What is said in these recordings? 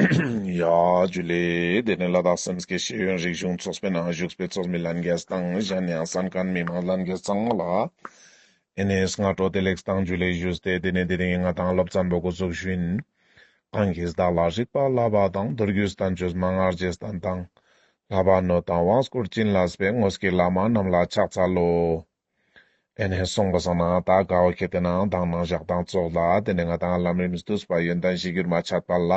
ཡ། རྒྱུ་ལས། དེ་ནི་བླ་དྭགས་སེམས་བསྐྱེད་ཤེས་ཡོན་རིག་གཞུང་ཚོགས་པའི་ནང་བཞུགས་པའི་ཚོགས་མི་ལྷན་རྒྱས་དང་གཞན་ཡང་ས་མཁར་མི་མང་ལྷན་རྒྱས་ཚང་མ་ལ། ཨེ་ནས་སྔ་དྲོ་བདེ་ལེགས་བཏང་རྒྱུ་ལས་བཞུགས་ཏེ་དེ་ནས་དེ་རིང་ང་དང་སློབ་ཚན་པོ་སྒོ་ཚུགས་ཤིང། གང་གིས་བདག་ལ་རིག་པ་བསླབ་པ་དང་མདོ་རྒྱུད་ས་བོན་ཆོས་སྨྲ་སྔགས་རྗེས་དང་དང། ལྷ་བ་ནོར་དང་དབང་བསྐུར་བྱིན་རླབས་པའི་དངོས་སྐྱེས་བླ་མ་རྣམས་ལ་ཕྱག་འཚལ་ལོ། དེ་ནས་གསུངས་པ་བཟང་ནའང་དག་དགའ་བ་གལ་ཏེ་ནའང་དག་སྣང་བཞག་དང་རྫོགས་ལ་དེ་ནས་ང་དང་ལམ་རིམ་བསྡུ་བསུ་བ་ཡོན་ཏན་བཞི་གྱུར་མ་ཆད་པ་ལ།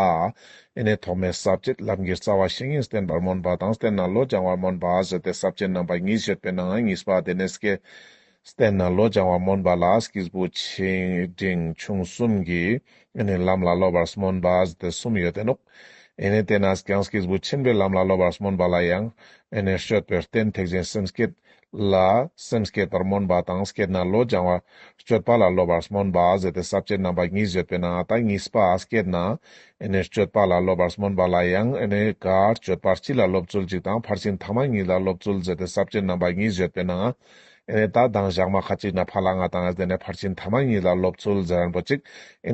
དེ་ནས་ཐོག་མའི་ཟབ་ཁྱད་ལམ་གྱི་རྩ་བ་བཤེས་གཉེན་བསྟེན་པར་སྨོན་པ་དང་བསྟེན་ན་བློ་སྦྱང་བར་སྨོན་པ་ཟེར་ཏེ་ཟབ་ཁྱད་རྣམ་པ་གཉིས་བཤད་པས་ནའང་གཉིས་པ་དེ་ནས་སྐྱེ། བསྟེན་ན་བློ་སྦྱང་བར་སྨོན་པ་ལ་སྐྱེས་བུ་ཆེ་འབྲིང་ཆུང་གསུམ་གྱིས་དེ་ནས་ལམ་ལ་སློབ་པར་སྨོན་པ་ཟེར་ཏེ་གསུམ་ཡོད་དེ་ནོ། དེ་ནས་དེ་ནས་ཀྱང་སྐྱེས་བུ་ཆེན་པོས་ལམ་ལ་སློབ་པར་སྨོན་པ་ལ་ཡང། དེ་ནས་བཤོད་པའི་རྟེན་ཐེག་ཆེན་སེམས་བསྐྱེད། ལ། སེམས་བསྐྱེད་པར་སྨོན་པ་དང་བསྐྱེད་ན་བློ་སྦྱང་བ། སྤྱོད་པ་ལ་སློབ་པར་སྨོན་པ་ཟད་དེ་ཟབ་ཅེས་རྣམ་པ་གཉིས་བརྗོད་པས་ན་ད་གཉིས་པ་བསྐྱེད་ན། སྤྱོད་པ་ལ་སློབ་པར་སྨོན་པ་ལ་ཡང། སྤྱོད་པ་སྤྱི་ལ་སློབ་ཚུལ་གཅིག་དང་ཕར་ཕྱིན་ཐ་མ་གཉིས་ལ་སློབ་ཚུལ་ཟད་དེ་ཟབ་ཅེས་རྣམ་པ་གཉིས་བརྗོད་པས་ན། ད་གདངས་བཞག་མ་ཁ་ཅིག་ན་ཕ་ལ་ང་དང་ཟད་ནས་ཕར་ཕྱིན་ཐ་མ་གཉིས་ལ་སློབ་ཚུལ་ཟད་རན་པོ་གཅིག།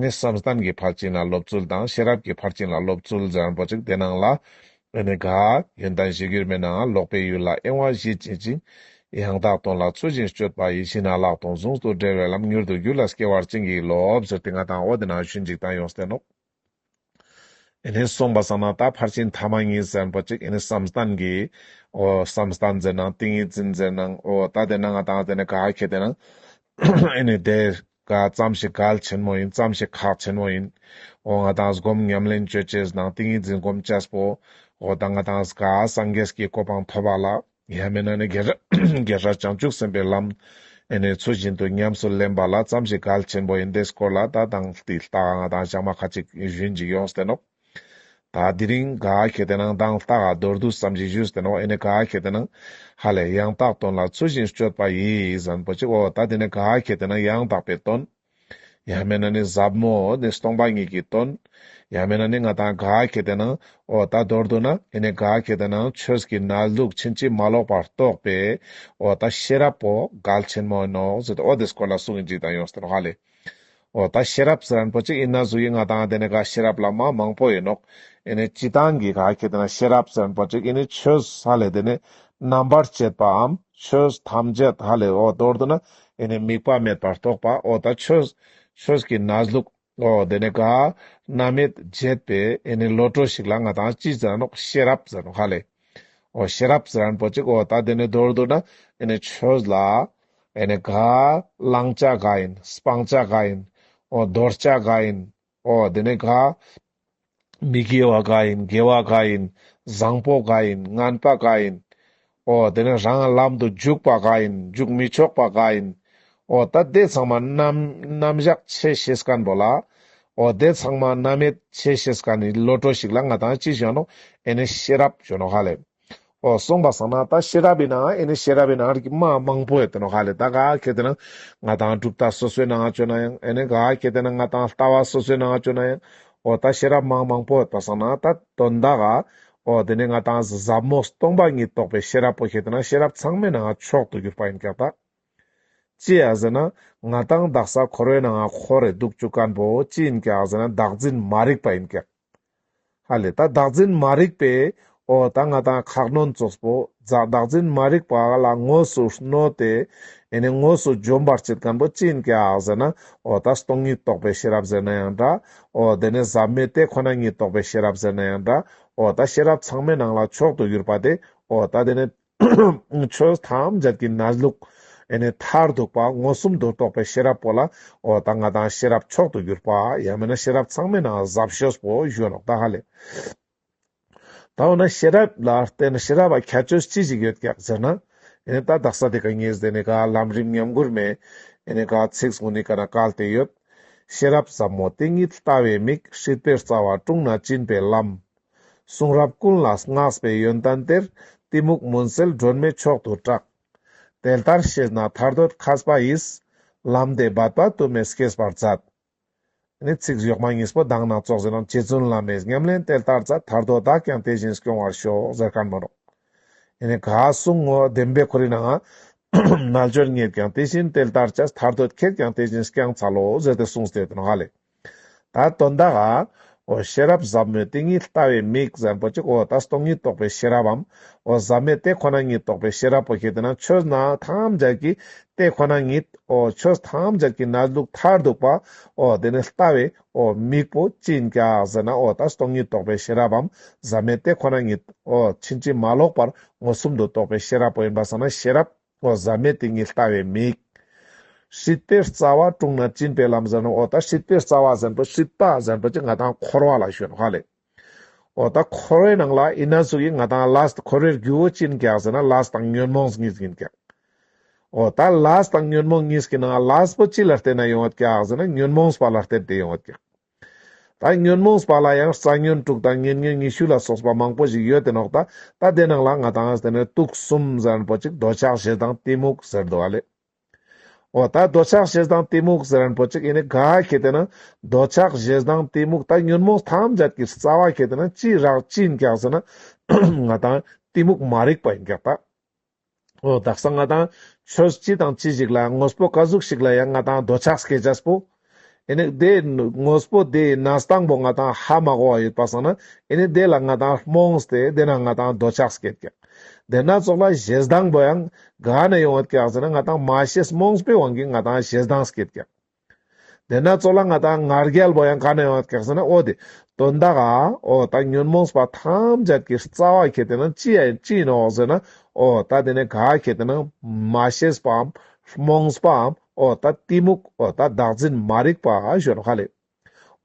བསམ་གཏན་གྱི་ཕར་ཕྱིན་ལ་སློབ་ཚུལ་དང་ཤེས་རབ་ཀྱི་ཕར་ཕྱིན་ལ་སློབ་ཚུལ་ཟད་རན་པོ་གཅིག་དེ་སྣང་ལ། འོན་ནི་གཱའི་ཡོན་ཏན་བཞེས་རྒྱུར་མེད་ནའང་ལོག་པའི་ཡུལ་ལ་གཡེང་བ་བཞི་བྱེད་ཅིང། ཡང་དག་དོན་ལ་ཚུལ་བཞིན་སྤྱོད་པ་ཡིད་བཞིན་ན་བརླག་དང་གཟུངས་སུ་འབྲེལ་བའི་ལམ་མྱུར་དུ་རྒྱུད་ལ་སྐྱེ་བར་བྱིན་གྱིས་རློབས། ཟེར་ཏེ་ང་དང་འོ་དེ་ན་ཞུས་འཇིག་རྟེན་ཡོངས་བསྟན་ནོ། འོན་ནི་གསུངས་པ་བསམ་ན་ད་ཕར་ཕྱིན་ཐ་མ་གཉིས་ཟེར་པོ་གཅིག་འོན་ནི་བསམ་སྟངས་ཀྱིས་འོ། བསམ་སྟངས་མཛེས་ན་ཏིང་ངེ་འཛིན་མཛེས་ན་འོ། ད་དེ་ན་ང་དང་འོ་དེ་ནས་གཱའི་ཁྱད་དེ་ན་འོན་ནི་དེ། ག་ཙམ་ཞིག་གལ་ཆེན་མོ་ཡིན་ཙམ་ཞིག་ཁག་ཆེན་མོ་ཡིན། འོ་ང་དང་སྒོམ་ཉམས་ལེན་སྤྱོད་བཅས་གཟི་དང་ཏིང་ངེ་འཛིན་སྒོམ་བཅས་པོ། འོ་ད་ང་དང་གཟི་ག་སངས་རྒྱས་ཀྱི་གོ་འཕང་ཐོབ་པ་ལ། ཡང་མིན་ན་ནི་རྒྱལ་སྲས་བྱང་ཆུབ་སེམས་དཔའི་ལམ། ཨེ་ནས་ཚུལ་བཞིན་དུ་ཉམས་སུ་ལེན་པ་ལ་ཙམ་ཞིག་གལ་ཆེན་པོ་ཡིན་དེས་སྐོར་ལ་ད་དང་དེ་ལྟ་ང་དང་བྱང་མ་ཁ་ཅིག་གཞོན་ཅིག་ཡོངས་སུ་བསྟན་ནོ། ད་དེ་རིང་ག་གེ་དེ་ནང་དང་ལྟ་ག་རྡོར་འདུག་བསམ་གྱིན་བཞུགས་ཟེར་ནའོ་ཨེ་ནི་ག་གེ་དེ་ནང། ཧ་ལས་ཡང་དག་དོན་ལ་ཚུལ་བཞིན་སྤྱོད་པ་ཡིས་བཟང་པོ་གཅིག་འོ་ད་དེ་ནི་ག་གེ་དེ་ནང་ཡང་དག་པའི་དོན། ཡང་མེད་ན་ནི་ཟབ་མོ་ནི་སྟོང་པ་ཉིད་ཀྱི་དོན། ཡང་མེད་ན་ནི་ང་དང་ག་གེ་དེ་ནང་འོ་ད་རྡོར་འདུག་ན་ཨེ་ནི་ག་གེ་དེ་ནང་ཆོས་ཀྱི་ན་ལུགས་ཕྱིན་ཅི་མ་ལོག་པར་རྟོགས་པས་འོ་ད་ཤེས་རབ་བོ་གལ་ཆེན་མོ་ཡིན་ནོ་ཟེར་ཏེ་འོ་དེ་སྐོར་ལ་གསུང་གིན་གཅིག་དང་ཡོངས་སུ་དྲན་ནོ་ཧ་ལས། ཨོ་ད་ཤེས་རབ་ཟེར་རན་པོ་ཅིག་ཡིན་ན་གཟུགས་ཡིག་ལྔ་དང་དེ་ནས་ག་ཤེས་རབ་ལ་མ་མང་པོ་ཡིན་ནོ། ཨེ་ནས་སྤྱི་དང་གི་ག་ཁྱེད་དེ་ན་ཤེས་རབ་ཟེར་རན་པོ་ཅིག་ཡིན་ནི་ཆོས་ཧ་ལས་དེ་ནས་རྣམ་པར་བཅད་པའམ་ཆོས་ཐམས་ཅད་ཧ་ལས་ཨོ་མདོར་བསྡུ་ན་ཨེ་ནས་དམིགས་པ་མེད་པར་རྟོགས་པ་ཨོ་ད་ཆོས་ཆོས་ཀྱི་ན་ལུགས་ཨོ་དེ་ནས་ག་རྣམ་མེད་བརྒྱད་པས་ཨེ་ནས་བློ་གྲོས་ཤིག་ལ་ང་དང་སྤྱི་ཟེར་རན་ཤེས་རབ་ཟེར་རན་ཧ་ལས་ཨོ་ཤེས་རབ་ཟེར་རན་པོ་ཅིག་ཨོ་ད་དེ་ནས་མདོར་བསྡུ་ན་ཨེ་ནས་ཆོས་ལ་ཨེ་ནས་ག། བླང་བྱ་ག་ཡིན། སྤང་བྱ་ག་ཡིན། ཨོ། འདོར་བྱ་ག་ཡིན། ཨོ། དེ་ནས་ག། མི་དགེ་བ་ག་ཡིན། དགེ་བ་ག་ཡིན། བཟང་པོ་ག་ཡིན། ངན་པ་ག་ཡིན། ཨོ། དེ་ནས་རང་ལམ་དུ་འཇུག་པ་ག་ཡིན། འཇུག་མི་ཆོག་པ་ག་ཡིན། ཨོ། ད་དེ་ཚང་མ་རྣམ། རྣམ་གཞག་ཆེ་ཞེས་ག་འགྲོ་ལ། ཨོ། དེ་ཚང་མ་རྣམ་མེད་ཆེ་ཞེས་ག་ནི་བློ་གྲོས་ཞིག་ལ་ང་དང་ཅི་བཞོན་ནོ། ཨེ་ནས་ཤེས་རབ་བཞོན་ནོ་ག་ལས། གསུངས་པ་བཟང་ན་ད་ཤེས་རབ་པའི་ནང་ཨེ་ནི་ཤེས་རབ་པའི་ནང་རིགས་མ་མང་པོ་ཡོད་དེ་ནོ་ག་ལས་ད་ག་གེ་དེ་ན་ང་དང་གྲུབ་མཐའ་སོ་སོའི་ནང་བྱོན་ན་ཡང་ཨེ་ནི་ག་གེ་དེ་ན་ང་དང་ལྟ་བ་སོ་སོའི་ནང་བྱོན་ན་ཡང་ཨོ་ད་ཤེས་རབ་མང་མང་པོ་ཡོད་པ་བཟང་ན་ད་དོན་དག་ག་ཨོ་དེ་ནས་ང་དང་ཟབ་མོ་སྟོང་པ་ཉིད་རྟོགས་པའི་ཤེས་རབ་པོ་ཤེས་དེ་ན་ཤེས་རབ་ཚང་མའི་ནང་མཆོག་ཏུ་གྱུར་པ་ཡིན་ཀྱང་ད། ཅི་ཡང་ཟེར་ན་ང་དང་བདག་ས་འཁོར་བའི་ནང་འཁོར་རེ་འདུག་བཅུ་གང་པོ་ཅི་ཡིན་ཀྱང་ཟེར་ན་བདག་འཛིན་མ་རིག་པ་ཡིན་ཀྱང། ཧ་ལས་ད་བདག་འཛིན་མ་རིག་པས་ཨོ་ད་ང་དང་ཁག་གནོན་རྩོད་པོ་རྫ་བདག་འཛིན་མ་རིག་པ་ལ་དངོས་སུ་གནོད་དེ་ཨེ་ནས་དངོས་སུ་འཇོམས་པར་བྱེད་མཁན་པོ་ཅི་ཡིན་ཀྱི་ཨག་ཟེར་ན་ཨོ་ད་སྟོང་ཉིད་རྟོགས་པའི་ཤེས་རབ་ཟེར་ན་ཡང་འདྲ་ཨོ་དེ་ནས་ཟབ་མོའི་དེ་ཁོ་ན་ཉིད་རྟོགས་པའི་ཤེས་རབ་ཟེར་ན་ཡང་འདྲ་ཨོ་ད་ཤེས་རབ་ཚང་མའི་ནང་ལ་མཆོག་ཏུ་གྱུར་པ་དེ་ཨོ་ད་དེ་ནས། ཆོས་ཐམས་ཅད་ཀྱི་ན་ལུགས། མཐར་ཐུག་པ་མངོན་སུམ་དུ་རྟོགས་པའི་ཤེས་རབ་པོ་ལ་ཨོ་ད་ང་དང་ཤེས་རབ་མཆོག་ཏུ་གྱུར་པ། ཡང་མིན་ན་ཤེས་རབ་ཚང་མའི་ནང་གཟབ་ཤོས་པོ་གཞོན་ནུ་ད་ཧ་ལས། ད་འོ་ན་ཤེས་རབ་ལ་བལྟས་ན་ཤེས་རབ་ལ་ཁྱད་ཆོས་ཅི་ཞིག་ཡོད་ཀྱང་ཟེར་ན། ད་རྡ་ས་དེ་ག་ངས་བཟས་ནས་ག་ལམ་རིམ་ཉམས་གུར་མེད། ག་ཚིག་ཟུང་ནི་ག་ན་ག་ལ་དེ་ཡོད། ཤེས་རབ་ཟབ་མོ་དེ་ཉིད་ལྟ་བའི་མིག་ཧྲིལ་པོའི་རྩ་བ་དཀྲུང་ན་བཅིངས་པའི་ལམ། གསུང་རབ་ཀུན་ལ་བསྔགས་པའི་ཡོན་ཏན་གཏེར། གཏི་མུག་མུན་སེལ་སྒྲོན་མེ་མཆོག་ཏུ་བཀྲག། དེ་ལྟར་ཤེས་ན་ཐར་འདོད་ཁྱབ་པ་ཡིས། ལམ་འདི་བར་དོ་དུ་མས་སྐྱེས་པར་མཛད། ནི་ཚིག་གཞོགས་མ་གཉིས་པོ་གདངས་སྣ་ཚོགས་ཟིན་རམ་རྗེ་བཙུན་བླ་མའི་ཉམས་ལེན་དེ་ལྟར་མཛད་ཐར་དོ་བདག་ཀྱང་དེ་བཞིན་སྐྱོང་བར་ཤོག་ཟེར་ཁར་མ་རུང། ནི་ག་གསུང་ངོ་བདེན་པའི་ཁོར་ཡུག་ནའང། རྣལ་འབྱོར་ངེད་ཀྱང་དེ་བཞིན་དེ་ལྟར་བྱ། ཐར་འདོད་ཁྱེད་ཀྱང་དེ་བཞིན་སྐྱང་ཚར་ལོ་ཟེར་ཏེ་གསུངས་ཏེ་དོན་ཧ་ལས། ད་དོན་དག་ཨ། འོ་ཤེས་རབ་ཟབ་མོའི་ཏིང་ངེ་ལྟ་བའི་མིག་གཟན་པོ་གཅིག་འོ་ད་སྟོང་ཉིད་རྟོགས་པའི་ཤེས་རབ་འམ། འོ་ཟབ་མོའི་དེ་ཁོ་ན་ཉིད་རྟོགས་པའི་ཤེས་རབ་པོ་ཞེས་དེ་ན་ཆོས་རྣམས་ཐམས་ཅད་ཀྱི་དེ་ཁོ་ན་ཉིད་འོ་ཆོས་ཐམས་ཅད་ཀྱི་ན་ལུགས་མཐར་ཐུག་པ་འོ་དེ་ནི་ལྟ་བའི་འོ་མིག་པོ་ཅི་འགག་ཟེར་ན་འོ་ད་སྟོང་ཉིད་རྟོགས་པའི་ཤེས་རབ་འམ་ཟབ་མོའི་དེ་ཁོ་ན་ཉིད་འོ་ཕྱིན་ཅི་མ་ལོག་པར་མངོན་སུམ་དུ་རྟོགས་པའི་ཤེས་རབ་པོ་ཡིན་པར་བསམས་ན་ཤེས་རབ། ལྷོ་བཟའ་མའི་ཏིང་ངེ་ལྟ་བའི་མིག། ཧྲིལ་པོའི་རྩ་བ་དཀྲུགས་ན་བཅིངས་པའི་ལམ་ཟེར་ནོ་འོ་ད་ཧྲིལ་པོའི་རྩ་བ་ཟེར་པོ་ཧྲིལ་པ་ཟེར་པོ་ཅི་ང་དང་འཁོར་བ་ལ་ཞོན་ཧ་ལས། འོ་ད་འཁོར་བའི་ནང་ལ་ཨི་ན་ཟུག་ཡིན་ང་དང་ལཱས་འཁོར་བའི་རྒྱུ་བོ་ཅིན་གེགས་ཟེར་ན་ལཱས་དང་ཉོན་མོངས་གཉིས་ཡིན་གེགས། འོ་ད་ལཱས་དང་ཉོན་མོངས་གཉིས་ཀྱི་ནང་ལཱས་པོ་ཅི་ལ་བལྟས་ན་ཡོང་བ་གེགས་ཟེར་ན་ཉོན་མོངས་པ་ལ་བལྟས་ཏེ་ཡོང་བ་གེགས། ད་ཉོན་མོངས་པ་ལ་ཡང་རྩ་ཉོན་དྲུག་དང་ཉེར་ཉོན་ཉི་ཤུ་ལ་སོགས་པ་མང་པོ་ཞིག་ཡོད་དེ་ནོག་ད་ད་དེ་རྣམས་ལ་ང་དང་དེ་ནས་དུག་གསུམ་ཟེར་རན་པོ་ཅིག་འདོད་ཆགས་ཞེ་སྡང་གཏི་མུག་ཟེར་འདུག་བ་ལས། འོ་ད་འདོད་ཆགས་ཞེ་སྡང་གཏི་མུག་ཟེར་རན་པོ་ཅིག་ཨེ་ནས་ག་གེ་དེ་ན་འདོད་ཆགས་ཞེ་སྡང་གཏི་མུག་ད་ཉོན་མོངས་ཐམས་ཅད་ཀྱི་རྩ་བ་གེ་དེ་ན་ཅི་རག་ཅི་ཡིན་ཀྱག་ཟེར་ན། ང་དང་གཏི་མུག་མ་རིག་པ་ཡིན་ཀྱག་ད། ཨོ་ད་ས་ང་དང་ཁྱོད་ཅི་དང་ཅི་ཞིག་ལ་དངོས་པོ་ཀ་གཟུགས་ཤིག་ལ་ཡང་ང་དང་རྡོ་ཆགས་སྐད་ཆ་པོ། ཨེ་ནི་དེ་དངོས་པོ་དེ་ཡི་ནང་སྟངས་པོ་ང་དང་ཧ་མ་གོ་བ་ཡོད་པ་སང་ན་ཨེ་ནི་དེ་ལ་ང་དང་རྨོངས་སྟེ་དེ་ན་ང་དང་རྡོ་ཆགས་སྐད་ཀྱང། དེ་སྣ་ཚོགས་ལ་ཞེ་སྡང་པོ་ཡང་ག་ནས་ཡོང་བ་ཀྱག་ཟེར་ན་ང་དང་མ་ཤེས་རྨོངས་པའི་དབང་གིས་ང་དང་ཞེ་སྡང་སྐད་ཀྱང། དེས་ན་གཙོ་ལ་ང་དང་ང་རྒྱལ་པོ་ཡང་ག་ནས་ཡོང་བ་གེགས་སེ་ན་ཨོ་དེ། དོན་དག་ཨ། ཨོ་ད་ཉོན་མོངས་པ་ཐམས་ཅད་ཀྱི་རྩ་བ་གལ་ཏེ་ན་ཅི་ཡང་ཅི་ཡིན་ནོ་འོ་ཟེར་ན་ཨོ་ད་དེ་ནས་ག་གལ་ཏེ་ན་མ་ཤེས་པའམ། རྨོངས་པའམ་ཨོ་ད་གཏི་མུག་ཨོ་ད་བདག་འཛིན་མ་རིག་པ་ཞོན་ཧ་ལས།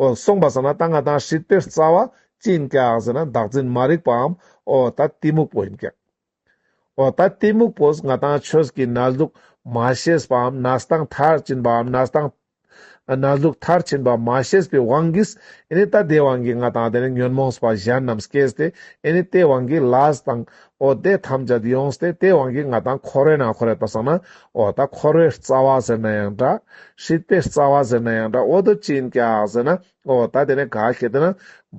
ཨོ་གསུངས་པ་ཟེར་ན་ད་ང་དང་ཧྲིལ་པོའི་རྩ་བ་ཅི་ཡིན་གེགས་ཟེར་ན་བདག་འཛིན་མ་རིག་པའམ་ཨོ་ད་གཏི་མུག་པོ་ཡིན་གེགས། འོ་ད་གཏི་མུག་པོས་ང་དང་ཁྱོད་ཀྱི་ན་ཟླུགས་མ་ཤེས་པའམ་ན་ཟླ་མཐར་ཕྱིན་པའམ་ན་ཟླ་ཟླུགས་མཐར་ཕྱིན་པ་མ་ཤེས་པའི་དབང་གིས་ཨེ་ནི་ད་ལྟའི་དབང་གིས་ང་དང་དེ་ནས་ཉོན་མོངས་པ་གཞན་རྣམས་སྐྱེས་ཏེ་ཨེ་ནི་དེའི་དབང་གིས་ལ་དང། འོ་དེ་ཐམས་ཅད་ཡོངས་ཏེ་དེའི་དབང་གིས་ང་དང་ཁོ་རོའི་ན་ཁོ་རེད་པར་བསམས་ན་འོ་ད་ཁོ་རོའི་རྩ་བ་ཟེར་ན་ཡང་འདྲ། ཧྲིལ་པོའི་རྩ་བ་ཟེར་ན་ཡང་འདྲ་འོ་དོ་ཅི་ཡིན་ཀྱག་ཟེར་ན་འོ་ད་དེ་ནས་ག་གེ་དེ་ན་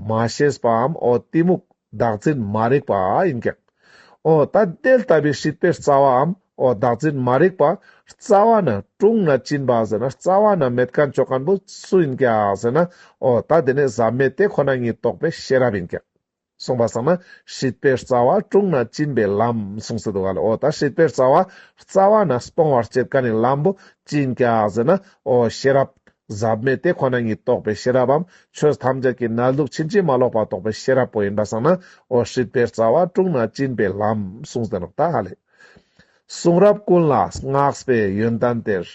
མ་ཤེས་པའམ་འོ་གཏི་མུག། བདག་འཛིན་མ་རིག་པ་ཡིན་ཀྱང། ཨོ་ད་དེ་ལྟ་བུའི་སྲིད་པའི་རྩ་བའམ་ཨོ་བདག་འཛིན་མ་རིག་པ་རྩ་བ་ན་ཀྲུང་ན་ཅིན་པ་ཟེར་ན་རྩ་བ་ན་མེད་ཀན་ཅོ་ཀན་པོ་སུ་ཡིན་ཀྱ་ཟེར་ན་ཨོ་ད་དེ་ནི་ཟབ་མེད་དེ་ཁོ་ན་ཉིད་རྟོགས་པའི་ཤེས་རབ་ཡིན་ཀྱ། གསུངས་པ་ཙམ་ན་སྲིད་པའི་རྩ་བ་ཀྲུང་ན་ཅིན་པའི་ལམ་གསུངས་སུ་འདུག་ག་ལ་ཨོ་ད་སྲིད་པའི་རྩ་བ་རྩ་བ་ན་སྤོང་བར་བྱེད་ཀ་ནི་ལམ་པོ་ཅིན་ཀྱ་ཟེར་ན་ཨོ་ཤེས་རབ་ཟབ་མོའི་དེ་ཁོ་ན་ཉིད་རྟོགས་པའི་ཤེས་རབ་བམ་ཆོས་ཐམས་ཅད་ཀྱི་རྣལ་འབྱོར་ཕྱིན་ཅི་མ་ལོག་པ་རྟོགས་པའི་ཤེས་རབ་པོ་ཡིན་པར་བསམ་ན་འོ་ཧྲིལ་པོའི་རྩ་བ་དཀྲུགས་ན་བཅིངས་པའི་ལམ་གསུངས་ཟིན་རབས་ད་ཧ་ལས། གསུང་རབ་ཀུན་ལ་བསྔགས་པའི་ཡོན་ཏན་དེར།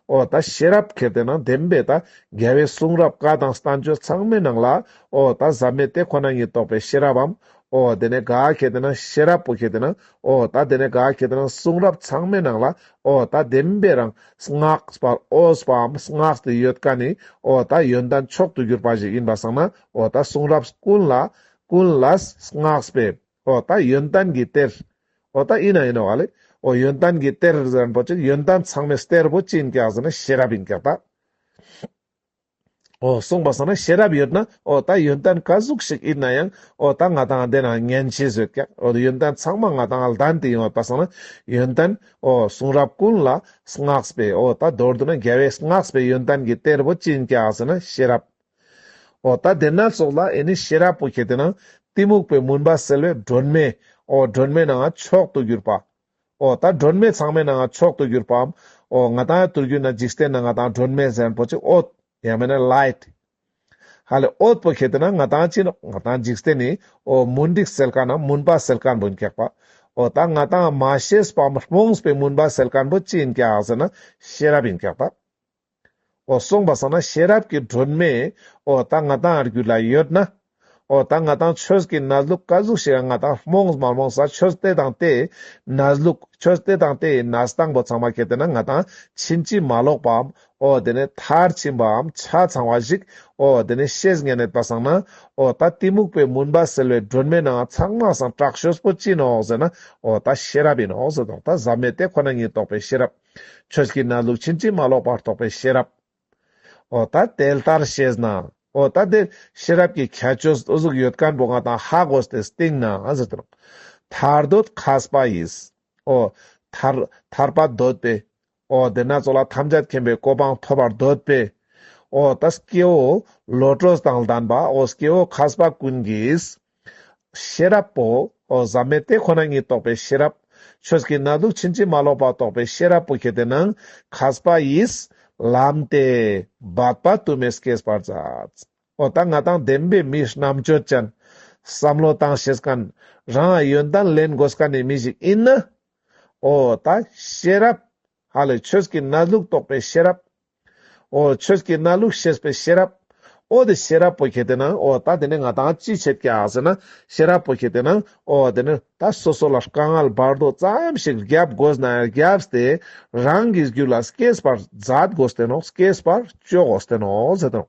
ཨོ་ད་ཤེས་རབ་གལ་ཏེ་ན་ལྡན་པས་ད་རྒྱལ་བའི་གསུང་རབ་བཀའ་དང་ས་བཅུ་ཚང་མའི་ནང་ལ་ཨོ་ད་ཟབ་མོའི་དེ་ཁོ་ན་ཉིད་རྟོགས་པའི་ཤེས་རབ་བམ་ཨོ་དེ་ནས་ག་གེ་དེ་ན་ཤེས་རབ་པོ་ཁེ་དེ་ན་ཨོ་ད་དེ་ནས་ག་གེ་དེ་ན་གསུང་རབ་ཚང་མའི་ནང་ལ་ཨོ་ད་བདེན་པའི་རང་སྔགས་པར་ཨོ་ཟ་བའམ་སྔགས་དེ་ཡོད་ཀ་ནི་ཨོ་ད་ཡོན་ཏན་མཆོག་ཏུ་གྱུར་པ་ཞིག་ཡིན་པར་བསམ་ན་ཨོ་ད་གསུང་རབ་ཀུན་ལ་ཀུན་ལ་སྔགས་པས་ཨོ་ད་ཡོན་ཏན་གྱི་གཏེར་ཨོ་ད་ཨི་ན་ཨི་ན་བ་ལས་ཨོ་ཡོན་ཏན་གྱི་གཏེར་ཟེར་བ་ཅིག་ཡོན་ཏན་ཚང་མའི་གཏེར་བུ་ཅི་ཡིན་ཀ་ཟེར་ན་ཤེས་རབ་ཡིན་ཀ་ད། ཨོ། གསུངས་པ་སོགས་ན་ཤེས་རབ་ཡོད་ན་ཨོ། ད་ཡོན་ཏན་བཀའ་ཟུགས་ཤིག་ཡིན་ན་ཡང་ཨོ། ད་ང་དང་ལྡན་ན་ངན་བྱེད་བཟོད་སྐྱ། ཨོ། ཡོན་ཏན་ཚང་མ་ང་དང་ལྡན་དུ་ཡོང་བ་པ་སོགས་ན་ཡོན་ཏན་ཨོ། གསུང་རབ་ཀུན་ལ་བསྔགས་པའི་ཨོ། ད་མདོར་བསྡུ་ན་རྒྱལ་བས་བསྔགས་པའི་ཡོན་ཏན་གྱི་གཏེར་བུ་བཅིང་བྱ་ཟེར་ན་ཤེས་རབ་ཨོ། ད་སྡེ་སྣོད་སོགས་ལ་ཨེ་ནི་ཤེས་རབ་པོ་ཁྱེད་དེ་ན། གཏི་མུག་པའི་མུན་པ་སེལ་བའི་སྒྲོན་མེ་ཨོ། སྒྲོན་མེ་ནའང་མཆོག་ཏུ་གྱུར་པ། ཨོ་ད་སྒྲོན་མེ་ཚང་མས་ན་ང་མཆོག་ཏུ་གྱུར་པའམ། ཨོ་ང་དང་ཡང་དུར་གྱུར་ན་འཇིག་རྟེན་ན་ང་དང་སྒྲོན་མེ་གཟན་པོ་ཅིག་ཨོད། ཡང་མེད་ན light། ཧ་ལས་ཨོད་པོ་ཁྱེད་དེ་ན་ང་དང་ཅི་འདྲ། ང་དང་འཇིག་རྟེན་ནི་ཨོ་མུན་འགྲིག་སེལ་དཀའ་ནམ་མུན་པ་སེལ་དཀའ་འབུན་སྐྱག་པ། ཨོ་ད་ང་དང་མ་ཤེས་པའམ་རྨོངས་པའི་མུན་པ་སེལ་དཀའ་འབུ་ཅི་ཡིན་སྐྱག་ཟེར་ན་ཤེས་རབ་ཡིན་སྐྱག་པ། ཨོ་གསུངས་པ་སོང་ན་ཤེས་རབ་ཀྱི་སྒྲོན་མེ། ཨོ་ད་ང་དང་རྒྱུད་ལ་ཡོད་ན། ཨོ་ད་ང་དང་ཆོས་ཀྱི་ན་ཟླུག་ཀ་ཟུག་ཞེས་ང་དང་རྨོངས་མ་རྨོངས་ས་ཆོས་སྟེ་དང་དེ་ཡི་ན་ཟླུག་ཆོས་སྟེ་དང་དེ་ཡི་ན་ཟླ་དང་པོ་ཚང་མ་ཁྱེར་དེ་ན་ང་དང་ཕྱིན་ཅི་མ་ལོག་པའམ་ཨོ་དེ་ནས་མཐར་ཕྱིན་པའམ་ཆ་ཚང་བ་ཞིག་ཨོ་དེ་ནས་ཤེས་ངེས་ནད་པ་སངས་ན་ཨོ་ད་གཏི་མུག་པའི་མུན་པ་སེལ་བའི་སྒྲོན་མེ་ནང་ཚང་མ་སངས་སྐྲག་ཤོས་པོ་ཅི་ནོ་ཟེར་ན་ཨོ་ད་ཤེས་རབ་ཡིན་ནོ་ཟེར་དང་ད་ཟབ་མོས་དེ་ཁོ་ན་ཉིད་རྟོགས་པའི་ཤེས་རབ། ཁྱོད་ཀྱི་གནས་ལུགས་ཕྱིན་ཅི་མ་ལོག་པར་རྟོགས་པའི་ཤེས་རབ། ཨོ་ད་དེ་ལྟར་ཤེས་ན། ཨོ་ད་དེ་ཤེས་རབ་ཀྱི་ཁྱད་ཆོས་གཟུགས་ཡོད་དཀར་འབོ་ང་དང་ཧ་གོ་སྟེ་སྟེང་ན་ཟེར་དུ་རུང། ཐར་འདོད་ཁ་སྤ་ཡིས། ཨོ། ཐར། ཐར་པ་འདོད་པས། ཨོ་དེ་སྣ་ཚོགས་ལ་ཐམས་ཅད་མཁྱེན་པའི་གོ་འཕང་ཐོབ་པར་འདོད་པས། ཨོ་ད་སྐྱེ་བོ། བློ་གྲོས་དང་ལྡན་པ་ཨོ་སྐྱེ་བོ་ཁ་སྤ་ཀུན་གྱིས། ཤེས་རབ་པོ། བཟའ་མེད་དེ་ཁོ་ན་ཉིད་རྟོགས་པའི་ཤེས་རབ། ཆོས་ཀྱི་ན་དུག་ཕྱིན་ཅི་མ་ལོག་པ་རྟོགས་པའི་ཤེས་རབ་པོ་ཁྱེད་དེ་ན་གཟ་པ་ཡིས། ལམ་སྟེ། བར་པ་དུ་མས་སྐྱེས་པར་མཛད། ཨོ་ད་ང་དང་ལྡན་པའི་མིས་རྣམ་དཔྱོད་ཅན། བསམ་བློ་བཏང་ཤེས་དཀའ་ན། རང་ཡོན་ཏན་ལེན་དགོས་དཀའ་ནི་མི་ཞིག་ཡིན། ཨོ་ད། ཤེས་རབ། ཧ་ལས་ཆོས་ཀྱི་རྣ་ལུག་རྟོགས་པའི་ཤེས་རབ། ཨོ། ཆོས་ཀྱི་རྣ་ལུག་ཤེས་པའི་ཤེས་རབ། ཨོ། དེ་ཤེས་རབ་པོ་ཁྱེད་དེ་ན་ཨོ། ད་དེ་ནས་ང་དང་ཅི་བྱེད་ཀྱི་ཟེར་ན། ཤེས་རབ་པོ་ཁྱེད་དེ་ན་ཨོ། དེ་ནས་ད་སོ་སོ་ལ་དཀའ་ངལ་བར་དོ་ཙམ་ཞིག་བརྒྱབ་དགོས་ན་བརྒྱབས་ཏེ། རང་གི་རྒྱུད་ལ་སྐྱེས་པར་མཛད་དགོས་ཏེ་ནོ་སྐྱེས་པར་སྤྱོད་དགོས་ཏེ་ནོ་ཟེར་ཏེ་ནོ།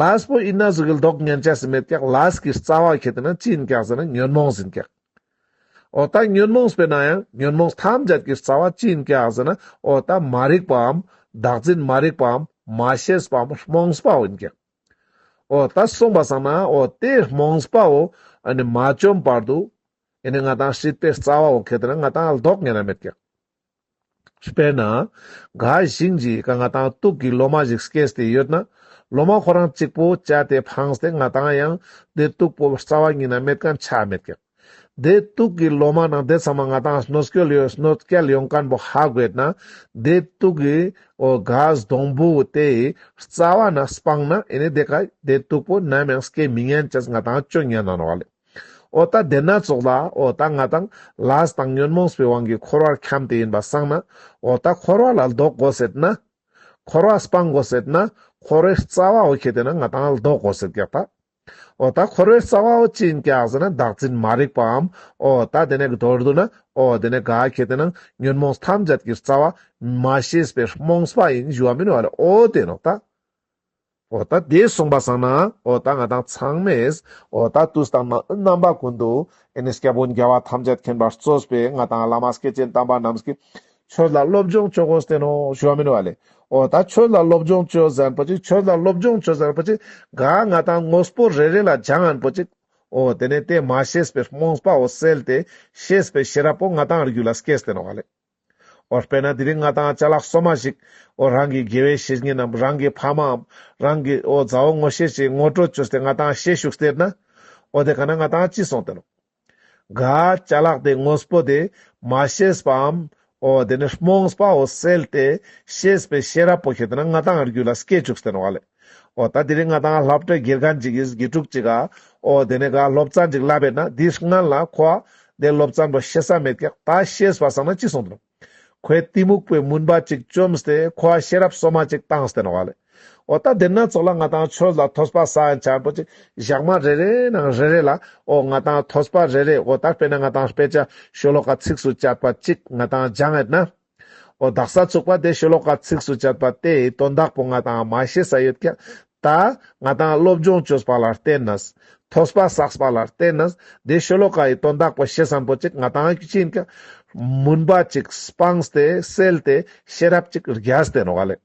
Last པོ་ཨི་ན་གཟུགས་ཀྱི་ལྡོག་བསྙན་བྱ་སེ་མེད་ཀྱག Last གྱི་རྩ་བ་ཁྱེད་དེ་ན་ཅི་ཡིན་ཀྱག་ཟེར་ན་ཉོན་མོངས་ཟིན་ཀྱག། ཨོ་ད་ཉོན་མོངས་པས་ན་ཡང་ཉོན་མོངས་ཐམས་ཅད་ཀྱི་རྩ་བ་ཅི་ཡིན་ཀྱག་ཟེར་ན་ཨོ་ད་མ་རིག་པའམ་བདག་འཛིན་མ་རིག་པའམ་མ་ཤེས་པའམ་རྨོངས་པའོ་ཡིན་ཀྱག། ཨོ་ད་གསུངས་པ་བསམ་ན་ཨོ་དེ་རྨོངས་པའོ་ཨ་ནི་མ་བཅོམ་པར་དུ་ཨེ་ནི་ང་དང་ཧྲིལ་པའི་རྩ་བའོ་ཁྱེད་དེ་ན་ང་དང་ལྡོག་བསྙན་ན་མེད་ཀྱག། དཔེར་ན། འགའ་ཞིག་གིས་རྐང་ང་དང་སྟུག་གི་ལོ་མ་ཞིག་སྐྱེས་ཏེ་ཡོད་ན། ལོ་མ་ཁོ་རང་གཅིག་པོ་བཅད་དེ་འཕངས་ཏེ་ང་དང་ཡང་སྡེ་སྟུག་པོ་རྩ་བ་ཉིད་ན་མེད་གམ་ཆ་མེད་ཀྱང། སྡེ་སྟུག་གི་ལོ་མ་ནང་དེ་ཚང་མ་ང་དང་སྣོད་སྐྱོལ་ཡོད་སྣོད་སྐྱེལ་ཡོང་མཁན་པོ་ཧ་དགོས་ན། སྡེ་སྟུག་གི་གཟའ་སྡོང་བུ་དེའི་རྩ་བ་ན་སྤངས་ན་ཨེ་ནས་དེ་ག་སྡེ་སྟུག་པོ་ནམ་ཡང་སྐྱེ་མི་ཉན་ཅེས་ང་དང་སྤྱོད་ཉན་གནང་བ་ལས། ཨོ་ད་དེ་སྣ་ཚོགས་ལ་ཨོ་ད་ང་དང་ལཱས་དང་ཉོན་མོངས་པའི་དབང་གིས་འཁོར་བར་འཁྱམས་ཏེ་ཡིན་པ་བསམ་ན་ཨོ་ད་འཁོར་བ་ལ་ལྡོག་གོ་ཟེར་ན། འཁོར་བ་སྤང་གོ་ཟེར་ན་འཁོར་བའི་རྩ་བའོ་ཁྱེད་དེ་ན་ང་དང་ལྡོག་གོ་ཟེར་ཀྱག་ད། ཨོ་ད་འཁོར་བའི་རྩ་བའོ་ཅི་ཡིན་ཀྱག་ཟེར་ན་བདག་འཛིན་མ་རིག་པའམ་ཨོ་ད་དེ་ནས་མདོར་བསྡུ་ན་ཨོ་དེ་ནས་ག་ཁྱེད་དེ་ན་ཉོན་མོངས་ཐམས་ཅད་ཀྱི་རྩ་བ། མ་ཤེས་པའི་རྨོངས་པ་ཡིན་ཞུ་བ་མིན་བ་ལས་ཨོ་དེ་ནོ་ད། འོ་ད་དེ་གསུངས་པ་བཟང་ན་འོ་ད་ང་དང་ཚང་མས་འོ་ད་དུས་དང་རྣམ་པ་ཀུན་ཏུ་ཨེ་ནས་སྐྱེ་བོ་འགལ་བ་ཐམས་ཅད་མཁྱེན་པར་བརྩོས་པའི་ང་དང་བླ་མ་སྐལ་ཅན་དམ་པ་རྣམས་ཀྱི་ཆོས་ལ་སློབ་སྦྱོང་བྱོས་གོ་བསྟན་ནོ་ཞུ་བ་མིན་བ་ལས་འོ་ད་ཆོས་ལ་སློབ་སྦྱོང་བྱོས་ཟེར་པོ་ཅིག་ཆོས་ལ་སློབ་སྦྱོང་བྱོས་ཟེར་པོ་ཅིག་ག་ང་དང་དངོས་པོ་རེ་རེ་ལ་སྦྱངས་པོ་ཅིག་འོ་དེ་ནས་དེ་མ་ཤེས་པའི་རྨོངས་པའོ་སེལ་ཏེ་ཤེས་པའི་ཤེས་རབ་པོ་ང་དང་རྒྱུད་ལ་སྐྱེས་བསྟན་བ་ལས། འོ་དཔེར་ན་དེ་རིང་ང་དང་ལྕགས་ལག་སོ་མ་ཞིག་འོ་རང་གི་དགེ་བའི་བཤེས་གཉེན་ནམ་རང་གི་ཕ་མའམ་རང་གི་འོ་མཛའ་བོ་ངོ་ཤེས་ཤིག་ངོ་སྤྲོད་བྱོས་ཏེ་ང་དང་ཤེས་བཞུགས་ཟེར་ན། འོ་དེ་ག་ན་ང་དང་ཅི་སོང་སྟེ་ལོ། ག། ལྕགས་ལག་དེ་ངོ་སྤོ་དེ་མ་ཤེས་པའམ། འོ་དེ་ནི་རྨོངས་པའོ་སེལ་ཏེ་ཤེས་པའི་ཤེས་རབ་པོ་ཞིག་དེ་ན་ང་དང་རྒྱུད་ལ་སྐྱེས་བཅུག་སྟེ་ལོ། ཨོ། ད་དེ་རིང་ང་དང་ལྷ་བྲེ་སྒེར་གང་ཅིག་གིས་དགེ་ཕྲུག་ཅིག་ག། ཨོ། དེ་ནས་ག་སློབ་ཙང་ཅིག་ལབ་པས་ན་འདི་སྔ་ལ་ཁོ་ཨ། དེ་སློབ་ཙང་པོ་ཤེས་ས་མེད་ཀི་ད་ཤེས་པ་སང་ན་ཅི་སོང་དུ། ཁོས་གཏི་མུག་པོའི་མུན་པ་ཅིག་བཅོམ་སྟེ་ཁོ་ཨ་ཤེས་རབ་སོ་མ་ཅིག་བཏང་སྟེ་ན་བ་ལེ། ཨོ། ད་དེ་སྣ་ཚོགས་ལ་ང་དང་ཆོས་ལ་ཐོས་པ་སང་ཅང་པོ་ཅིག་ཞག་མ་རེ་རེ་ན་རེ་རེ་ལ་ཨོ། ང་དང་ཐོས་པ་རེ་རེ་ཨོ་ད་དཔེ་ན་ང་དང་དཔེ་ཆ་ཤོ་ལོ་ཀ་ཚིགས་སུ་བཅད་པ་ཅིག་ང་དང་སྦྱང་ཨེ་ན། ཨོ་བདག་ས་ཚུགས་པ་དེ་ཤོ་ལོ་ཀ་ཚིགས་སུ་བཅད་པ་དེ་ཡི་དོན་དག་པོ་ང་དང་མ་ཤེས་ས་ཡོད་ཀྱང། ད་ང་དང་སློབ་སྦྱོང་བཅོས་པ་ལ་བརྟེན་ནས། ཐོས་པ་བསགས་པ་ལ་བརྟེན་ནས་འདིའི་ཤོ་ལོ་ཀ་ཡི་དོན་དག་པོ་ཤེས་བསམ་པོ་ཅིག་ང་དང་གཅིག་ཀྱང། མུན་པ་ཅིག་སྤངས་ཏེ་སེལ་ཏེ་ཤེས་རབ་ཅིག་རྒྱས་ཏེ་ནོར་བ་ལས།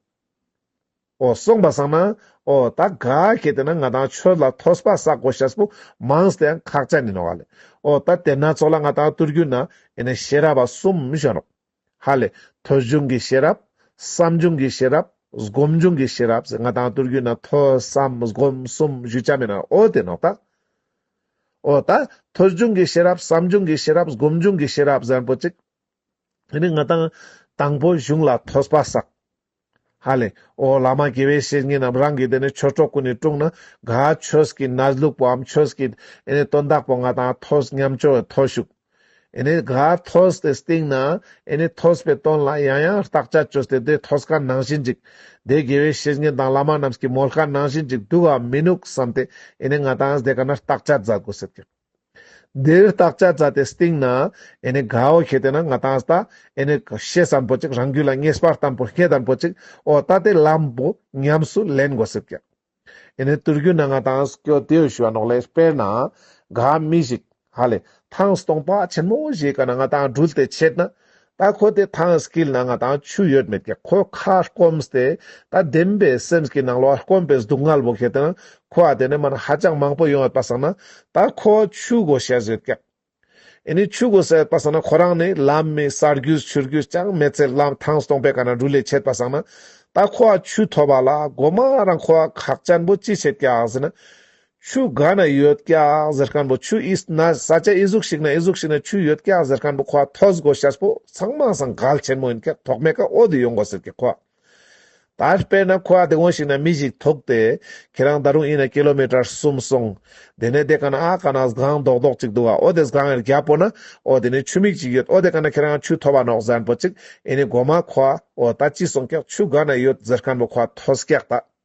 ཨོ་གསུངས་པ་བསམ་ན། ཨོ་ད་ག་གེ་དེ་ན་ང་དང་ཁྱོད་ལ་ཐོས་པ་ས་གོ་ཤ་སྤུ་མང་སྟེ་ཡང་ཁག་ཅག་ནི་ནོ་ཧ་ལས། ཨོ་ད་དེ་ན་ཚོགས་ལ་ང་དང་བསྟུར་གྱུར་ན་ཡེ་ནས་ཤེས་རབ་པ་གསུམ་བྱོན་རོགས། ཧ་ལས། ཐོས་བྱུང་གི་ཤེས་རབ། བསམ་བྱུང་གི་ཤེས་རབ། སྒོམ་བྱུང་གི་ཤེས་རབ་ཟེར་ང་དང་བསྟུར་གྱུར་ན་ཐོས་བསམ་སྒོམ་གསུམ་བཞུགས་བྱ་མེད་ན་ཨོ་དེ་ནོག་ད། ཨོ་ད། ཐོས་བྱུང་གི་ཤེས་རབ་བསམ་བྱུང་གི་ཤེས་རབ་སྒོམ་བྱུང་གི་ཤེས་རབ་ཟེར་པོ་ཅིག། ཡེ་ནས་ང་དང་དང་པོ་གཞུང་ལ་ཐོས་པ་ས། ཧ་ལས། ཨོ་བླ་མ་དགེ་བའི་བཤེས་གཉེན་རྣམས་རང་གིས་དེ་ནས་ཆོས་གྲོགས་ཀུན་ནས་དཀྲུགས་ན་དགའ། ཁྱོད་ཀྱིས་ན་ལུག་པོའམ་ཁྱོད་ཀྱིས་ཨེ་ནས་སྟོན་བདག་པོ་ང་དང་ཐོས་སྙམ་སྐྱོ་བའི་ཐོས་ཤུགས། ཨེ་ནས་དགའ། ཐོས་ཏེ་བསྟིངས་ན་ཨེ་ནས་ཐོས་པའི་དོན་ལ་ཡང་ཡང་བརྟག་དཔྱད་བྱོས་ཏེ་དེ་ཐོས་དཀའ་ནང་བཞིན་འཇིག། དེ་དགེ་བའི་བཤེས་གཉེན་དང་བླ་མ་རྣམས་ཀྱིས་མོ་དཀའ་ནང་བཞིན་འཇིག་འདུག་གམ་མི་འདུག་བསམས་ཏེ་ཨེ་ནས་ང་དང་ཨེ་ནས་དེ་ག་ན་བརྟག་དཔྱད་མཛད་དགོས་ཟེར་གྱི། འདིར་བརྟག་བྱ་བྱ་དེ་སྟེང་ན། ཨེ་ནི་གའོ་ཤེས་དེ་ན་ང་དང་ལྟ། ཨེ་ནི་གོ་ཤེས་སམ་པོ་ཅིག་རང་རྒྱུད་ལ་ངེས་པར་དམ་པོར་སྐྱེ་དམ་པོ་ཅིག་ཨོ་ལྟ་དེ་ལམ་པོ་ཉམས་སུ་ལེན་དགོས་སྲིད་ཀྱི། ཨེ་ནི་དུར་རྒྱུད་ན་ང་དང་སྐྱོ་དེའོ་ཞུ་བ་ནོག་ལེ་དཔེར་ན། ག་མི་ཤིག་ཧ་ལས། ཐང་སྟོང་པ་ཆེན་མོ་བཞེས་ག་ན་ང་དང་སྦྲུལ་དེ་ཆད་ན། ད་ཁོ་དེ་ཐང་སྐིལ་ན་ང་དང་ཆུ་ཡོད་མེད་ཀྱི་ཁོའི་ཁ་སྐོམ་སྟེ། ད་བདེན་པའི་སེམས་ཀྱི་ནང་ལོགས་སྐོམ་པའི་སྡུག་བསྔལ་བོ་ཁད་དེ། ཁོ་ཨ་དེ་ནས་མ་ན་ཧ་ཅང་མང་པོ་ཡོང་ཡོད་པ་བསམ་ན། ད་ཁོ་ཆུ་འགོ་བཤལ་ཟོས་ཀྱི། ཨེ་ནི་ཆུ་འགོ་བསལ་ཡོད་པ་བསམ་ན་ཁོ་རང་ནི་ལམ་མི་གསར་རྒྱུས་ཆུར་རྒྱུས་ཅང་མེད་ཚེ་ལམ་ཐང་སྟོང་པའི་ག་ན་འབྲུ་ལས་ཆད་པ་བསམ་ན། ད་ཁོ་ཨ་ཆུ་ཐོ་བ་ལ་སྒོ་མ་རང་ཁོ་ཨ་ཁག་ཅན་པོ་ཅི་བྱེད་ཀྱི་ཨང་ཟེར་ན། ཆུ་འགའ་ན་ཡོད་སྐྱག་ཟེར་མཁན་པོ་ཆུ་ཨི་ན་ས་ཆ་ཨི་གཟུགས་ཤིག་ན་ཨི་གཟུགས་ཤིག་ན་ཆུ་ཡོད་སྐྱག་ཟེར་མཁན་པོ་ཁོ་ཨ་ཐོས་དགོས་ཤ་སྤོ་ཚང་མ་ཟང་གལ་ཆེན་མོ་ཡིན་སྐྱག་ཐོག་མེད་ཀ་ཨོ་དི་ཡོད་འགོ་ཟེར་ཀྱི་ཁོ་ཨ་ད་དཔེར་ན་ཁོ་ཨ་དེ་གོན་ཞིག་ན་མི་ཞིག་ཐུག་སྟེ་ཁྱེད་རང་ད་རུང་ཨི་ན་ཀི་ལོ་མི་ཏྲར་གསུམ་སོང་དེ་ནས་དེ་ག་ན་ཨ་ག་ན་སྒང་རྡོག་རྡོག་ཅིག་འདུག་ཨ་ཨོ་དེ་སྒང་ཨེར་རྒྱ་སྤོ་ན་ཨོ་དེ་ནས་ཆུ་མིག་ཅིག་ཡོད་ཨོ་དེ་ག་ན་ཁྱེད་རང་ཆུ་ཐོ་བ་ནོག་ཟན་པོ་ཅིག་ཨེ་ནི་དགོ་མ་ཁོ་ཨ་ཨོ་ད་ཅི་སོང་སྐྱག་ཆུ་འགའ་ན་ཡོད་ཟེར་མཁན་པོ་ཁོ་ཨ་ཐོས་སྐྱག་ད།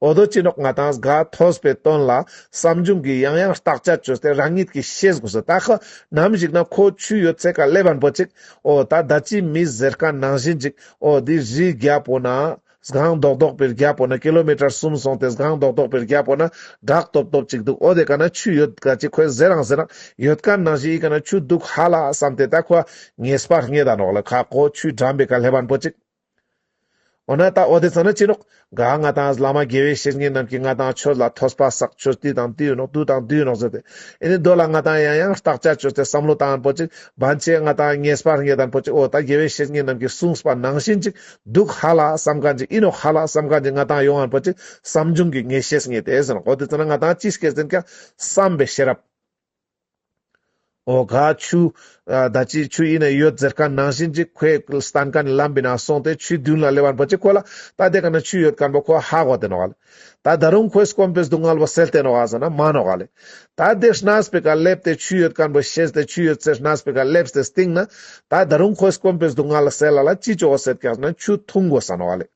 འོ་དོ་སྤྱི་ནོར་ང་དང་གཟའ་ཐོས་པའི་དོན་ལ་བསམ་བྱུང་གིས་ཡང་ཡང་བརྟག་དཔྱད་བྱོས་ཏེ་རང་ཉིད་ཀྱིས་ཤེས་དགོས་སོ་ད་ཁོ་ནམ་ཞིག་ན་ཁོ་ཆུ་ཡོད་ཚད་ཀ་ལས་བར་འབོད་ཅིག་འོ་ད་ད་ཅིའི་མི་ཟེར་ཀ་ནང་བཞིན་ཅིག་འོ་འདི་རིའི་རྒྱ་པོ་ན་སྒང་རྡོག་རྡོག་པའི་རྒྱ་པོ་ན་ཀི་ལོ་མི་ཀྲར་གསུམ་སོང་སྟེ་སྒང་རྡོག་རྡོག་པའི་རྒྱ་པོ་ན་སྦྲག་སྟོབ་སྟོབ་ཅིག་འདུག་འོ་དེ་ཀ་ན་ཆུ་ཡོད་ཀ་ཅིག་ཁོས་ཟེར་རང་ཟེར་རང་ཡོད་ཀ་ནང་བཞིན་ཡི་ཀ་ན་ཆུ་འདུག་ཧ་ལ་བསམ་སྟེ་ད་ཁོ་ངེས་པར་རྙེད་ད་ནོག་ལ་ཁ་ཁོ་ཆུའི་འགྲམ་པའི་ཀ་ལས་བར་འབོད་ཅིག། འོ་ན་ད་འོ་དེ་ཙམ་ན་ཅི་ནོག། ག་ང་དང་བླ་མ་དགེ་བའི་བཤེས་གཉེན་རྣམས་ཀྱིས་ང་དང་ཁྱོད་ལ་ཐོས་པ་བསགས་ཁྱོད་དུས་དང་དུས་ཡོད་ནོག་དུས་དང་དུས་ཡོད་ནོག་ཟེར་ཏེ། ཨེ་ནི་འདོད་ལ་ང་དང་ཡང་ཡང་བརྟག་བྱ་ཁྱོད་ཚོས་བསམ་བློ་དང་པོ་ཅིག་བན་ཆེ་ང་དང་ངེས་སྤར་ངེས་དང་པོ་ཅིག་འོ་ད་དགེ་བའི་བཤེས་གཉེན་རྣམས་ཀྱིས་གསུངས་པ་ནང་བཞིན་ཅིག་འདུག་ཧ་ལ་བསམ་ག་འཇིག་ཨི་ནོག་ཧ་ལ་བསམ་ག་འཇིག་ང་དང་ཡོང་ང་པོ་ཅིག་བསམ་བྱུང་གི་ངེས་ཤེས་ངེས་ཏེ་ཟེར་ནོག་འོ་དེ་ཙམ་ན་ང་དང་ཅི་བསྐྱེད་ཟིན་ཀྱང་བསམ་པའི་ཤེས་རབ། ཨོ་ག་ཆུ། ད་ཅིའི་ཆུ་ཡིན་ན་ཡོད་ཟེར་ག་ནང་བཞིན་གཅིག་ཁོས་སྟན་ག་ནས་ལམ་བི་ན་སོང་སྟེ་ཆུའི་མདུན་ལ་ལེ་བར་འབོད་ཅིག་ཁོ་ལ་ད་དེ་ག་ན་ཆུ་ཡོད་ག་འབོད་ཁོ་ཧ་གོ་དེ་ནོ་ག་ལེ། ད་ད་རུང་ཁོས་སྐོམ་པས་སྡུག་བསྔལ་བ་སེལ་ཏེ་ནོ་ག་ཟེར་ན་མ་ནོ་ག་ལེ། ད་དེ་སྣས་པི་ག་སླེབས་ཏེ་ཆུ་ཡོད་ག་འབོད་ཤེས་ཏེ་ཆུ་ཡོད་ཚེ་སྣས་པི་ག་སླེབས་ཏེ་སྟིང་ན། ད་ད་རུང་ཁོས་སྐོམ་པས་སྡུག་བསྔལ་ལ་སེལ་ལ་ལ་ཅི་བྱོ་བ་ཟེར་ག་ཟེར་ན་ཆུ་འཐུང་དགོས་ས་ནོ་ག་ལེ།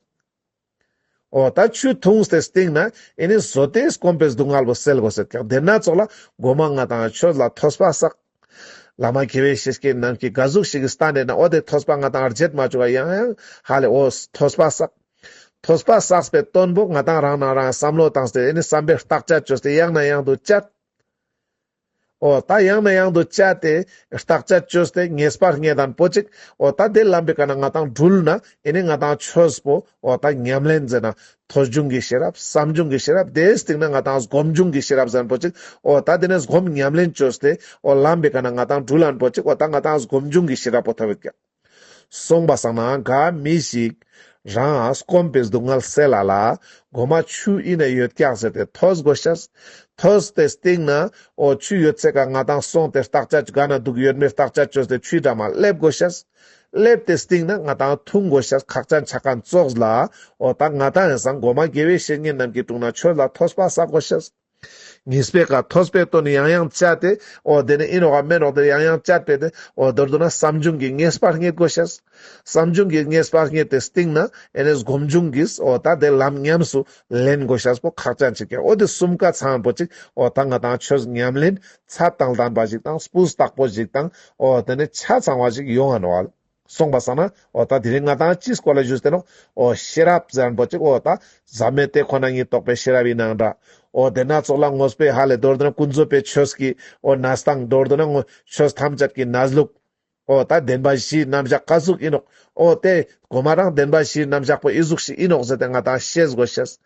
འོ་ད་ཆུ་འཐུངས་ཏེ་སྟེང་ན་ཨེ་ནས་བཟོ་སྟེ་སྐོམ་པའི་སྡུག་བསྔལ་བོ་སེལ་དགོས་ཟེར་ཀྱང་དེ་སྣ་ཚོགས་ལ་སྒོ་མ་ལྔ་དང་ཆོས་ལ་ཐོས་པ་བསགས། བླ་མ་དགེ་བའི་བཤེས་ཀྱི་ནང་གི་དགའ་གཟུགས་ཤིག་གི་ས་ནས་ནའོ་དེ་ཐོས་པ་ལྔ་དང་རྗེད་མ་བཅུག་ལ་ཡང་ཡང་ཧ་ལས་འོ། ཐོས་པ་བསགས། ཐོས་པ་བསགས་པའི་སྟོན་པོ་ང་དང་རང་སྣང་རང་བསམ་བློ་བཏང་སྟེ་ཨེ་ནས་བསམ་པའི་རྟགས་ཆ་བཅོས་ཏེ་ཡང་ན་ཡང་དུ་བསྐྱལ། འོ་ད་ཡང་ནས་ཡང་དུ་བཅད་དེ་རྟགས་དཔྱད་བཅོས་དེ་ངེས་པར་ངེས་དང་པོ་གཅིག་འོ་ད་དེ་ལམ་པའི་ཀ་ན་ང་དང་སྦྲུལ་ན་ཨེ་ནི་ང་དང་ཆོས་པོ་འོ་ད་ཉམས་ལེན་མཛད་ན་ཐོས་བྱུང་གི་ཤེས་རབ་བསམ་བྱུང་གི་ཤེས་རབ་དེའི་སྟེང་ན་ང་དང་སྒོམ་བྱུང་གི་ཤེས་རབ་གཟན་པོ་གཅིག་འོ་ད་དེ་ནས་སྒོམ་ཉམས་ལེན་བཅོས་དེ་འོ་ལམ་པའི་ཀ་ན་ང་དང་སྦྲུལ་ལན་པོ་གཅིག་འོ་ད་ང་དང་སྒོམ་བྱུང་གི་ཤེས་རབ་པོ་ཐོས་བསྐྱེད། སོང་པ་སང་ན་ག་མི་ཞིག། རང་ཨ་སྐོམ་པའི་སྡུག་བསྔལ་སེལ་ལ་ལ། སྒོ་མ་ཆུ་ཨི་ན་ཡོད་སྐྱག་ཟེར་ཏེ་ཐོས་དགོས་ཤག། ཐོས་ཏེ་སྟེང་ན་ཨོ་ཆུ་ཡོད་ཚད་ག་ང་དང་སོང་སྟེ་རྟགས་ཆ་ག་ན་དུག་ཡོད་མེད་རྟགས་ཆ་གཅོད་ཏེ་ཆུའི་འགྲམ་མ་སླེབས་དགོས་ཤག། སླེབས་ཏེ་སྟེང་ན་ང་དང་འཐུང་དགོས་ཤག་ཁག་ཅག་འཆ་ཁ་འཚོགས་ལ། ཨོ་ད་ང་དང་ཨེ་སང་སྒོ་མ་དགེ་བའི་བཤེས་གཉེན་རྣམས་ཀྱི་དྲུང་ན་ཆོས་ལ་ཐོས་པ་བསགས་དགོས་ཤག། ངེས་པའི་ཁ་ཐོས་པའི་དོན་ཡང་ཡང་བྱ་སྟེ། འོ་དེ་ནི་ཨིན་རོགས་ཨ་མེན་རོགས་དེར་ཡང་ཡང་བྱ་སྤེལ་ཏེ། འོ་མདོར་བསྡུ་ན་བསམ་བྱུང་གིས་ངེས་པར་རྙེད་དགོས་ཤེས། བསམ་བྱུང་གིས་ངེས་པར་རྙེད་དེ་སྟེང་ན་ཨེ་ནས་སྒོམ་བྱུང་གིས་འོ་ད་དེ་ལམ་ཉམས་སུ་ལེན་དགོས་ཤེས་པོ་ཁག་ཅག་མཆིས་ཀྱང་འོ་དེ་གསུམ་ཀ་ཚང་པོ་ཅིག་འོ་ད་ང་དང་ཁྱོད་ཉམས་ལེན་ཚ་དང་དམ་པ་ཞིག་དང་སྤུས་དག་པོ་ཞིག་དང་འོ་དེ་ནི་ཆ་ཚང་བ་ཞིག་ཡོང་ཨ་ནོ་ཨལ། སོང་བ་བསམ་ན་འོ་ད་དེ་རིང་ང་དང་ཅིས་སྐོར་ལ་བཞུགས་ཟེར་ནོ། འོ་ཤེས་རབ་བཟའ་རིན་པོ་ཆེ་འོ་ད་བཟའ་མེད་དེ་ཁོ་ན་ཉིད་རྟོགས་པའི་ཤེས་རབ་ཡིན་ནའང་འདྲ། འོ་དེ་སྣ་ཚོགས་ལ་ངོ་སྤེལ་ཧ་ལས་མདོར་བསྡུ་ན་ཀུན་རྫོབ་པའི་ཆོས་ཀྱི་འོ་ན་སྟངས་མདོར་བསྡུ་ན་ངོ་ཆོས་ཐམས་ཅད་ཀྱི་ན་ལུགས། འོ་ད་བདེན་པ་བཞིའི་རྣམ་བཞག་བཀའ་གཟུགས་ཡིན་ནོ། འོ་དེ་གོང་མ་རང་བདེན་པ་བཞིའི་རྣམ་བཞག་པོ་ཨི་གཟུགས་ཤིག་ཡིན་ནོ་ཟེར་ཏེ་ང་དང་ཤེས་དགོས་ཤེས།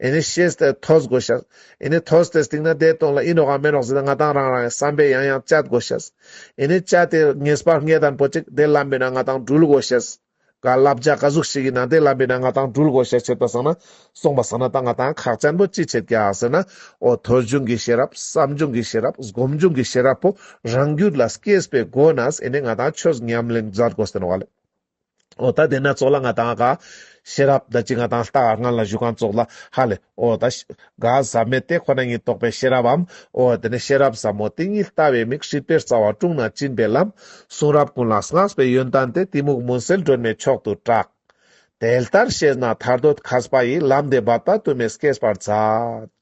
ཨེ་ནི་ཤེས་ཏེ་ཐོས་དགོས་ཤག། ཨེ་ནི་ཐོས་ཏེ་སྟེང་ན་བདེ་སྟོང་ལ་ཨི་འགྲོ་གང་མེད་རོགས་ཟེར་ཏེ་ང་དང་རང་རང་གི་བསམ་པས་ཡང་ཡང་དཔྱད་དགོས་ཤག། ཨེ་ནི་དཔྱད་དེ་ངེས་པར་ངེས་དང་པོ་ཅིག་དེ་ལམ་པའི་ནང་ང་དང་སྦྲུལ་དགོས་ཤག། ག་བསླབ་བྱ་ག་གཟུགས་ཤིག་ཡིན་ན་དེ་ལམ་པའི་ནང་ང་དང་སྦྲུལ་དགོས་ཤག་བྱེད་པ་བཟང་ན་གསུངས་པ་བཟང་ན་ད་ང་དང་ཁག་བཅར་འདུག་ཅི་བྱེད་ཀྱག་ཟེར་ན། ཨོ་ཐོས་བྱུང་གི་ཤེས་རབ་བསམ་བྱུང་གི་ཤེས་རབ་སྒོམ་བྱུང་གི་ཤེས་རབ་པོ་རང་རྒྱུད་ལ་སྐྱེས་པའི་སྒོ་ནས་ཨེ་ནི་ང་དང་ཆོས་ཉམས་ལེན་མཛད་དགོས་ཟེར་བ་ལས། ཨོ་ད་དེ་ན་ཚོགས་ལ་ང་དང་ག། ཤེས་རབ་ད་ཅི་ང་དང་ལྟ་ང་ལ་བཞུགས་གང་ཚོགས་ལ་ཧ་ལས། ཨོ་ད། ག་ཟབ་མེད་དེ་ཁོ་ན་ཉིད་རྟོགས་པའི་ཤེས་རབ་བམ། ཨོ་དེ་ནས་ཤེས་རབ་ཟབ་མོ་དེ་ཉིད་ལྟ་བའི་མིག་ཧྲིལ་པོའི་རྩ་བ་དཀྲུང་ན་བཅིངས་པའི་ལམ། གསུང་རབ་ཀུན་ལ་བསྔགས་པའི་ཡོན་ཏན་དེ་གཏི་མུག་མུན་སེལ་སྒྲོན་མེའི་མཆོག་ཏུ་གྲགས། དེ་ལྟར་ཤེས་ན་ཐར་འདོད་ཁ་ཟས་པ་ཡི་ལམ་འདི་འབབ་དག་དུ་མས་སྐེད་པར་འཛག།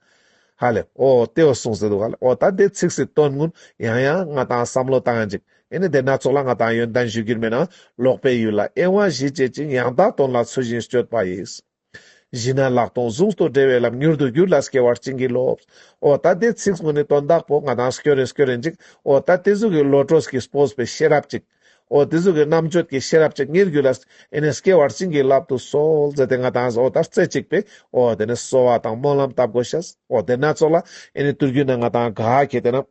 ཧ་ལས། ཨོ་ལྟེ་བ་གསུངས་ཟེར་འདུག་ཨ་ལས། ཨོ་ད་འདི་ཚིག་སྲིད་དོན་དངོས། ཡང་ཡང་ང་དང་བསམ་བློ་བཏང་ཅིག། ཨེ་ནི་དེ་སྣ་ཚོགས་ལ་ང་དང་ཡོན་ཏན་ཞུ་རྒྱུར་མེད་ན། ལོག་པའི་ཡུལ་ལ་གཡེང་བ་བཞི་བྱེད་ཅིང་ཡང་དག་དོན་ལ་ཚུལ་བཞིན་སྤྱོད་པ་ཡིས། བཞི་ན་ལག་སྟོང་གཟུགས་སྟོང་བྲལ་བའི་ལམ་མྱུར་དུ་བསྒྱུར་ལ་སྐྱེ་བར་བྱིན་གྱིས་རློབས། ཨོ་ད་འདི་ཚིག་དངོས་ནི་དོན་དག་པོ་ང་དང་སྐྱོ་རེན་སྐྱོ་རེན་ཅིག། ཨོ་ད་འདི་གཟུགས་ཀྱི་བློ་གྲོས་ཀྱིས་སྤོས་པའི་ཤེས་རབ་ཅིག། འོ་དེ་གཟུགས་ཀྱི་རྣམ་དཔྱོད་ཀྱི་ཤེས་རབ་ཅིག་ངེར་གྱུར་ལ། ཨེ་ནས་སྐྱེ་བར་བྱིན་གྱིས་བརླབ་ཏུ་གསོལ། མཛད་དེ་ང་དང་འོ་དར་རྩེ་གཅིག་པས། འོ་དེ་ནས་གསོལ་བ་དང་སྨོན་ལམ་བཏབ་དགོས་ཤག། འོ་དེ་སྣ་ཚོགས་ལ། ཨེ་ནས་དུར་གྱུར་ན་ང་དང་དགའ་ཁྱེད་དེ་ན།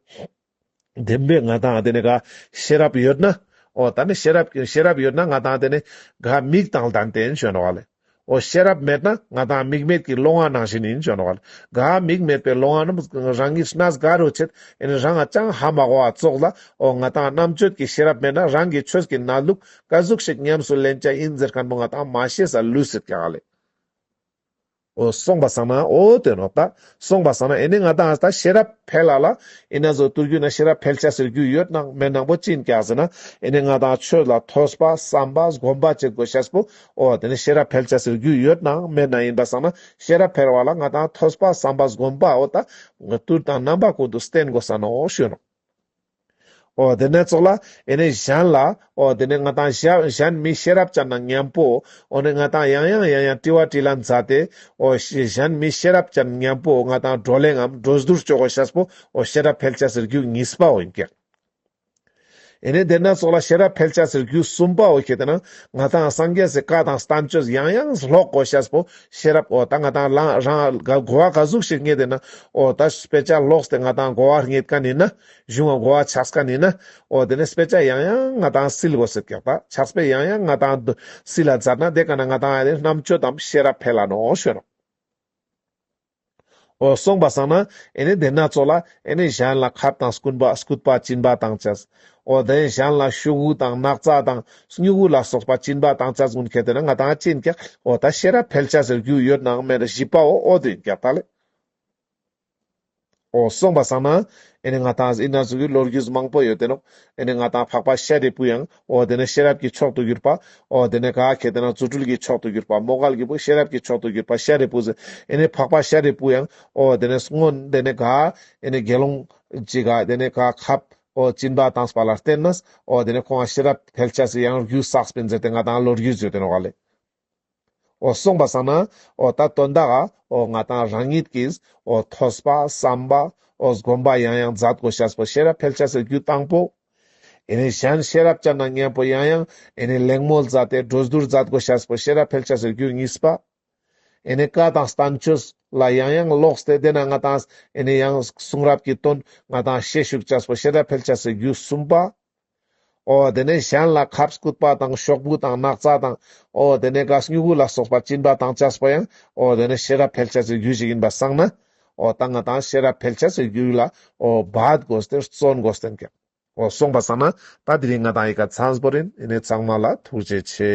བདེན་པས་ང་དང་དེ་ནས་དགའ། ཤེས་རབ་ཡོད་ན། འོ་ད་ནི་ཤེས་རབ། ཤེས་རབ་ཡོད་ན་ང་དང་དེ་ནས་དགའ། མིག་དང་ལྡན་བསྟན་བཅོས་འགྲོ་བ་ལས། འོ་ཤེས་རབ་མེད་ན་ང་དང་མིག་མེད་ཀྱི་བློ་ང་ནང་བཞིན་ཡིན་བྱོན་བར་ག་མིག་མེད་པའི་བློ་ང་རྣམས་རང་ཉིད་སྣ་ཟ་ག་རུ་བྱེད་ཨིན་རང་ང་ཅང་ཧ་མ་གོ་བ་ཙོག་ལ་འོ་ང་དང་རྣམ་དཔྱོད་ཀྱི་ཤེས་རབ་མེད་ན་རང་གི་ཆོས་ཀྱི་རྣ་ལུག་ཀ་གཟུགས་ཤིག་ཉམས་སུ་ལེན་བྱ་ཨིན་ཟེར་མཁན་པོ་ང་དང་མ་ཤེས་ས་ལུས་ཟེར་ག་ལས། འོ་སོང་བ་སང་ན་འོ་དོན་འོག་ད་སོང་བ་སང་ན་ཨེ་ནི་ང་དང་ད་ཤེས་རབ་འཕེལ་ལ་ལ་ཨི་ན་བཟོ་བཏུར་རྒྱུ་ན་ཤེས་རབ་འཕེལ་བྱ་ཟེར་རྒྱུ་ཡོད་ནང་མེད་ནང་པོ་ཅིན་ག་ཟེར་ན་ཨེ་ནི་ང་དང་ཆོས་ལ་ཐོས་པ་བསམ་པ་སྒོམ་པ་བྱེད་དགོས་ཤ་སྤོ་ཨོ་དེ་ནི་ཤེས་རབ་འཕེལ་བྱ་ཟེར་རྒྱུ་ཡོད་ནའང་སྨན་ན་ཡིན་པ་བསམ་ན་ཤེས་རབ་འཕེལ་བ་ལ་ང་དང་ཐོས་པ་བསམ་པ་སྒོམ་པ་འོ་ད་ལྟུར་དང་རྣམ་པ་ཀུན་ཏུ་བསྟེན་དགོས་ས་ནའོ་ཞུས་རོ། ཨོ་དེ་ནས་ཙོག་ལ་ཨེ་ནས་གཞན་ལ་ཨོ་དེ་ནས་ང་དང་གཞན་མི་ཤེས་རབ་བྱ་ན་ངན་པོ་ཨོ་ནི་ང་དང་ཡང་ཡང་ཡང་ཡང་དཀྲི་བ་དཀྲི་ལ་འཛའ་སྟེ་ཨོ་གཞན་མི་ཤེས་རབ་བྱ་ན་ངན་པོ་ང་དང་འགྲོ་ལེ་ངམ་འགྲོ་ཟླུར་སྤྱོད་གོ་ཤ་སྤོ་ཨོ་ཤེས་རབ་འཕེལ་བྱ་ཟེར་རྒྱུ་གཉིས་པའོ་ཡིན་གྱི། ཡེ་ནས་དེ་སྣ་ཚོགས་ལ་ཤེས་རབ་འཕེལ་བྱ་ཟེར་རྒྱུ་གསུམ་པའོ་ཞེས་དང། ང་དང་སངས་རྒྱས་སུ་བཀའ་དང་གཏམ་བཅོས་ཡང་ཡང་ཀློག་གོ་ཤཱས་པོ་ཤེས་རབ་ཨོ་ད་ང་དང་ལངས་རང་གོ་བ་ག་གཟུགས་ཤིག་རྙེད་དེ་ན་ཨོ་ད་དཔེ་ཆ་ཀློགས་ཏེ་ང་དང་གོ་བ་རྙེད་ཀ་ནི་ན་གཞུང་གོ་བ་ཆགས་ཀ་ནི་ན་ཨོ་དེ་ནས་དཔེ་ཆ་ཡང་ཡང་ང་དང་སིལ་བུ་སིལ་ཀྱག་དག་ཆགས་པས་ཡང་ཡང་ང་དང་སིལ་ལ་འཛར་ན་དེ་ག་ན་ང་དང་རྣམ་དཔྱོད་དམ་ཤེས་རབ་འཕེལ་ལ་ནོ་ཞོན་ནོ། ཨོ། གསུངས་པ་བསམ་ན་ཨེ་ནི་དེ་སྣ་ཚོགས་ལ་ཨེ་ནི་གཞན་ལ་ཁབ་དང་སྐུན་པ་སྐུད་པ་བཅིན་པ་དང་བཅས། ཨོ་དེ་གཞན་ལ་ཤུག་བུ་དང་སྣག་ཚ་དང་སྨྱུག་བུ་ལ་སོགས་པ་བཅིན་པ་དང་བཅས་ཀུན་གལ་ཏེ་ན་ང་དང་བཅིན་ཀྱང་ཨོ་ད་ཤེས་རབ་འཕེལ་བྱ་ཟེར་རྒྱུ་ཡོད་ནའང་མེད་རེ་བཞི་པའོ་ཨོ་དེ་རྒྱབ་ད་ལས། ཨོ་གསུངས་པ་བསམ་ན་ཨེ་ནི་ང་དང་གཟི་ཨི་ན་གཟུགས་ཀྱི་ལོ་རྒྱུས་མང་པོ་ཡོད་དེ་ནོ། ཨེ་ནི་ང་དང་འཕགས་པ་ཤཱ་རིའི་བུ་ཡང་འོ་དེ་ནས་ཤེས་རབ་ཀྱི་མཆོག་ཏུ་གྱུར་པ། འོ་དེ་ནས་ག་གེ་དེ་ན་རྫུ་འཕྲུལ་གྱི་མཆོག་ཏུ་གྱུར་པ་མོ་གལ་གྱི་བུ་ཤེས་རབ་ཀྱི་མཆོག་ཏུ་གྱུར་པ་ཤཱ་རིའི་བུ་ཟེ་ཨེ་ནས་འཕགས་པ་ཤཱ་རིའི་བུ་ཡང། འོ་དེ་ནས་སྔོ་དེ་ནས་ག་ཨེ་ནས་དགེ་སློང། ཅི་ག་དེ་ནས་ག་ཁབ། འོ་སྤྱིན་པ་དང་སྤ་ལ་བརྟེན་ན། འོ་དེ་ནས་ཁོང་ང་ཤེས་རབ་ཕལ་ཆེར་ཟེ་ཡང་རྒྱུ་བསགས་སྤེན་ཟེར་ཏེ་ང་དང་ལོ་རྒྱུས་བརྗོད་དོན་བ་ལས། གསུངས་པ་བསམ་ན་ད་དོན་དག་ང་དང་རང་ཉིད་ཀྱིས་ཐོས་པ་བསམ་པ་བསྒོམ་པ་ཡང་ཡང་མཛད་དགོས་ཤཱས་པོ་ཤེས་རབ་འཕེལ་བྱ་ཟེར་རྒྱུ་དང་པོ། གཞན་ཤེས་རབ་བསྐྱར་ན་སྙན་པོ་ཡང་ཡང་གླེང་མོལ་མཛད་དེ་སྒྲོས་བསྡུར་མཛད་དགོས་ཤཱས་པོ་ཤེས་རབ་འཕེལ་བྱ་ཟེར་རྒྱུ་གཉིས་པ། བཀའ་དང་གཏམ་ཆོས་ལ་ཡང་ཡང་ལོགས་ཏེ་དེས་ན་ང་དང་ཡང་གསུང་རབ་ཀྱི་དོན་ང་དང་ཤེས་བཞུགས་ཤཱས་པོ་ཤེས་རབ་འཕེལ་བྱ་ཟེར་རྒྱུ་གསུམ་པ། ཨོ་དེ་ནས་གཞན་ལ་ཁབ་བསྐུད་པ་དང་ཤོག་བུ་དང་སྣག་ཚ་དང། ཨོ་དེ་ནས་གཱས་སྨྱུ་གུ་ལ་སོགས་པ་བཅིངས་པ་དང་བཅས་པ་ཡང། ཨོ་དེ་ནས་ཤེས་རབ་ཕལ་ཆེར་ཚོའི་རྒྱུད་ཅིག་ཡིན་པར་བསམས་ན། ཨོ་རྟ་རྔ་དང་ཤེས་རབ་ཕལ་ཆེར་ཚོའི་རྒྱུད་ལ། ཨོ་བཱད་དགོས་སྟེ་བརྩོན་དགོས་སྟེ་འགེབས། ཨོ་གསུངས་པར་བསམས་ན། ད་དེ་རིང་ང་དང་ཡི་ག་ཚངས་པོ་རིན་ཨི་ནི་ཚངས་མ་ལ་ཐུགས་རྗེ་ཆེ།